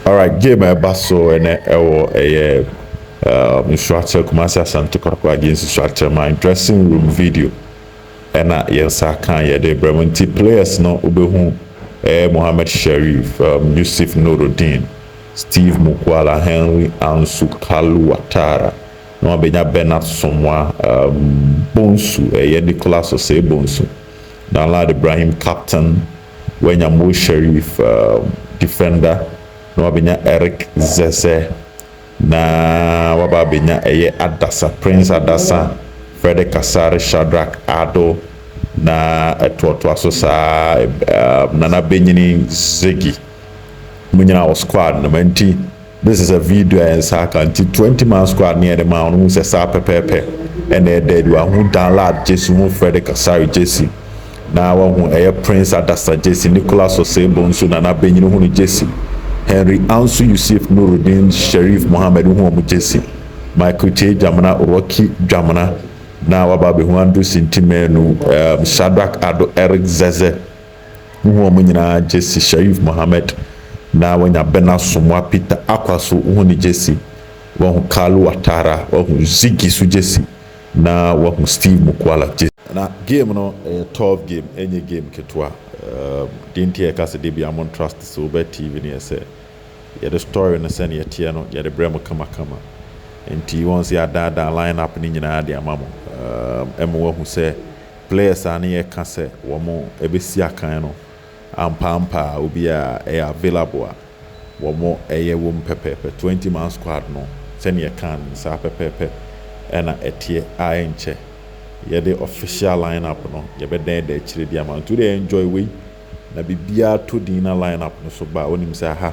Alright game a ɛba so ɛnɛ ɛwɔ ɛyɛ um, nsuakyɛ Kumasi Asante Kɔtɔkɔ agye nsusuakyɛ ma dressing room video ɛna yɛn nsa aka yɛde brɛ mu nti players no wobɛhu ɛyɛ Mohammed Sharif, um, Yusuf Nurudeen, Steve Mukwala, Henry Ansu, Kalu Watara na wabɛnya Bernard Somwa, um, Bonsu ɛyɛ Nicholas Osei Bonsu, Danlad Ibrahim captain, Wanya Mo Sharif Defender na wabɛnya Eric Zese na waba abɛnya ɛyɛ Adasa, Prince Adasa, Freddy Kasare, Shadrack Ado na ɛtoatoa so saa Nana Benyini Ziggy. Mo nyinaa wɔ squad no mu ɛnti. This is a video a yɛn nsa aka nti twenty man squad ne yɛde maa wo no hu sɛ saa pɛpɛɛpɛ ɛna ɛda adi wahu danlad gyesi hu fredrick asare gyesi na wahu ɛyɛ prince adasa gyesi nicholas osebo nso nana benyini hu no gyesi henry ansu yusuf nurudin sherif mohammed wohu wɔn gyesi michael kyei dwamena rocky dwamena na waba abɛhu andrew sinti manu um, shadrack ado eric zeze Wohu wɔn nyinaa gyesi Sharif Mohammed na wanya Ben Asomoah Peter Akwaso wohu ne gyesi, wahu Kalu Watara, wahu Ziggy so gyesi na wahu Steve Mukwala gyesi. Na game no ɛyɛ tough game ɛnyɛ game ketewa um, deɛ nti a yɛka sɛ da biara mon trust sɛ wobɛ TV no yɛ sɛ yɛde story no sɛne ɛteɛ no yɛde brɛ mo kama kama nti wɔn sɛ yɛadaadaa line up no nyinaa de ama mo um, ɛma wahu sɛ Players a ne yɛ ka sɛ wɔn bɛ si akan no ampa ampa a obia ɛyɛ available a wɔn ɛyɛ wom pɛpɛɛpɛ. Twenty man squad no sɛnea yɛ kaa no saa pɛpɛɛpɛ ɛna ɛteɛ a ɛnkyɛ yɛ de official line up no yɛ bɛ da ɛda akyire de ama. Nti wo deɛ enjoy wei na biribiara tɔ din na line up no so ba a wonim sɛ aha.